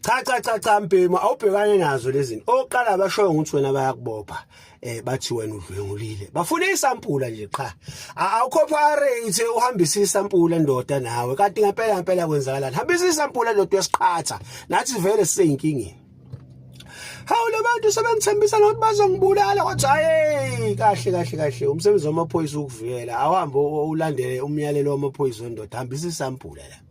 cha cha cha cha mbhemu awubhekane nazo lezini oqala bashoyo ukuthi wena bayakubopha eh bathi wena udlwengulile bafuna isampula nje qha awucooperate uhambisa isampula ndoda nawe kanti ngempela ngempela kwenzakalani hambisa isampula ndoda yesiqhatha nathi vele siseyinkingeni hawu labantu sebengithembisa nokuthi bazongibulala kodwa hayi kahle kahle kahle umsebenzi wamaphoyisa ukuvikela awuhambe ulandele umyalelo wamaphoyisa wendoda hambisa isampula la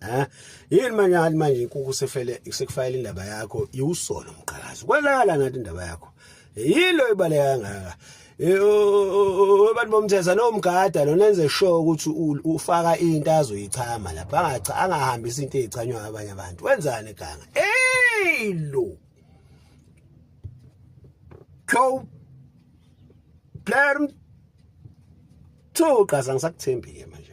ha yini manje hali manje inkuku sefele sekufayela indaba yakho iwusolo mqhakazi kwenzakala ngathi indaba yakho yilo ibaleka kangaka abantu bomthetho lo mgada lo nenze sure ukuthi ufaka into azoyichama lapha angacha angahambisa into ezichanywa abanye abantu wenzani ganga hey lo go player mthuqa sangisakuthembile manje